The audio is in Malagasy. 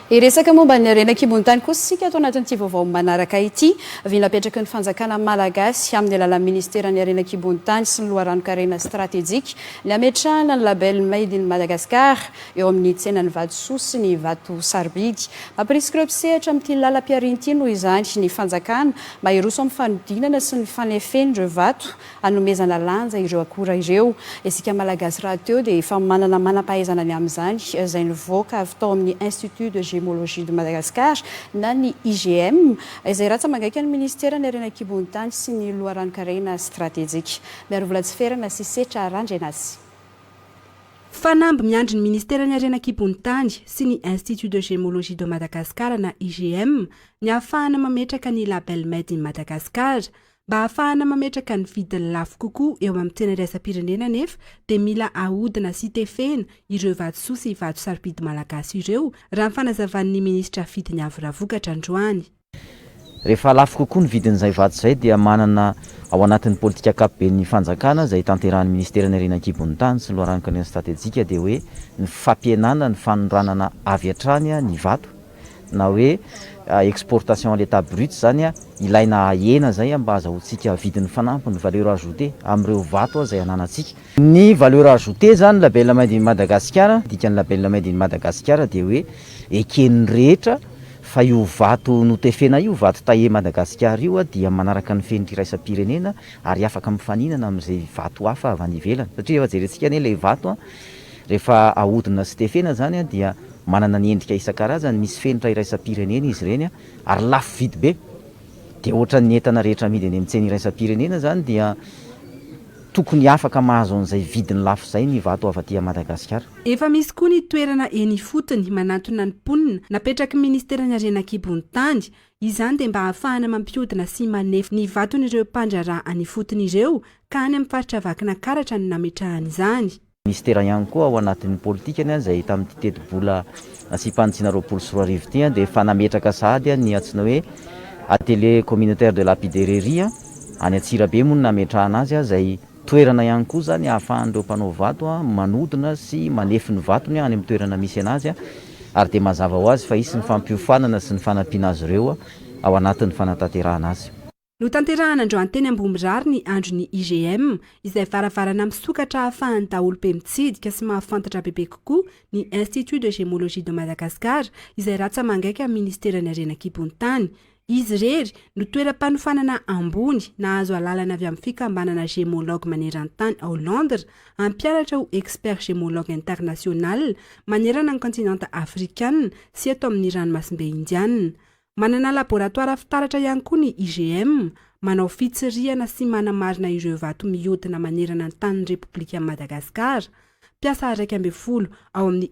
Hiresaka momba ny harena an-kibon-tany kosa isika ato anatin'ity vaovao manaraka ity. Vy napetraky ny fanjakana malagasy, amin'ny alalan'ny minisiteran'ny harena an-kibon-tany sy ny loharanon-karena stratejika, ny hametrahana ny label Made in Madagascar eo amin'ny tsenan'ny vatosoa sy ny vato sarobidy. Mampirisika ireo mpisehatra amin'ity lalam-pihariana ity noho izany ny fanjakana mba hiroso amin'ny fanodinana sy ny fanefen'ireo vato hanomezana lanja ireo akora ireo. Isika Malagasy rahateo dia efa manana manam-pahaizana ny amin'izany, izay nivoaka avy tao amin'ny Institut de Gémologie de Madagascar na ny IGM, izay ratsa-mangaika ny Minisiteran'ny Harena an-kibon'ny tany sy ny loharanon-karena stratejika. Miarovola tsy ferana sy setra Randrianasy. Fanamby miandry ny Minisiteran'ny Harena an-kibon'ny tany sy ny Institut de Gémologie de Madagascar na IGM ny ahafahana mametraka ny Label Made in Madagascar Mba hahafahana mametraka ny vidiny lafo kokoa eo amin'ny tsena iraisam-pirenena anefa dia mila ahodina sy tefena ireo vatosoa sy vato sarobidy malagasy ireo, raha ny fanazavan'ny minisitra Fidiny Avo Ravokatra androany. Rehefa lafo kokoa ny vidin'izay vato izay dia manana ao anatin'ny politika ankapoben'ny fanjakana izay tanterahan'ny minisiteran'ny Harena an-kibon'ny tany sy ny loharanon-karena stratejika dia hoe ny fampihenana ny fanondranana avy hatrany ny vato na hoe exportation à l'état brut izany ilaina ahena izay mba azahoantsika vidiny fanampiny, valeur ajoutée, amin'ireo vato izay ananantsika. Ny valeur ajoutée izany, label made in Madagascar, ny dikan'ny label made in Madagascar dia hoe eken'ny rehetra fa io vato notefena io, vato taillé Madagascar io dia manaraka ny fenitra iraisam-pirenena ary afaka mifaninana amin'izay vato hafa avy any ivelany satria efa jerentsika anie ilay vato an! Rehefa ahodina sy tefena izany dia manana ny endrika isan-karazany, misy fenitra iraisam-pirenena izy ireny ary lafo vidy be. Dia ohatran'ny entana rehetra amidy eny amin'ny tsena iraisam-pirenena izany dia tokony afaka mahazo an'izay vidiny lafo izay ny vato avy aty Madagasikara. Efa misy koa ny toerana eny ifotony manantona ny mponina napetraky ny ministeran'ny harena an-kibon'ny tany. Izany dia mba hahafahana mampihodina sy manefy ny vaton'ireo mpandraharaha any ifotony ireo ka any amin'ny faritra Vakinankaratra no nametrahany izany. Minisitera ihany koa ao anatin'ny politikany izay tamin'ity tetibola asiam-panitsiana roapolo sy roa arivo ity dia efa nametraka sahady ny antsoina hoe Atelier Communautaire de Lapidererie any Antsirabe moa no nametrahana azy izay toerana ihany koa izany ahafahan'ireo mpanao vato manodina sy manefy ny vatony any amin'ny toerana misy anazy ary dia mazava ho azy fa hisy ny fampiofanana sy ny fanampiana azy ireo ao anatin'ny fanatanterahana azy. Notanterahana androany teny Ambohimirary ny andron'ny IGM, izay varavarana misokatra ahafahan'ny daholobe mitsidika sy mahafantatra bebe kokoa ny Institut de Gémologie de Madagascar, izay ratsa-mangaika amin'ny Ministeran'ny Harena an-kibon-tany. Izy irery no toeram-panofanana ambony nahazo alalana avy amin'ny fikambanana Gémologue maneran-tany ao Londres hampianatra ho Expert Gémologue International manerana ny kontinanta Afrikana sy eto amin'ny Ranomasimbe Indiana. Manana laboratoara fitaratra ihany koa ny IGM, manao fitsirihana sy manamarina ireo vato mihodina manerana ny tanin'ny Repoblikan'i Madagasikara. Mpiasa iraika ambin'ny folo ao amin'ny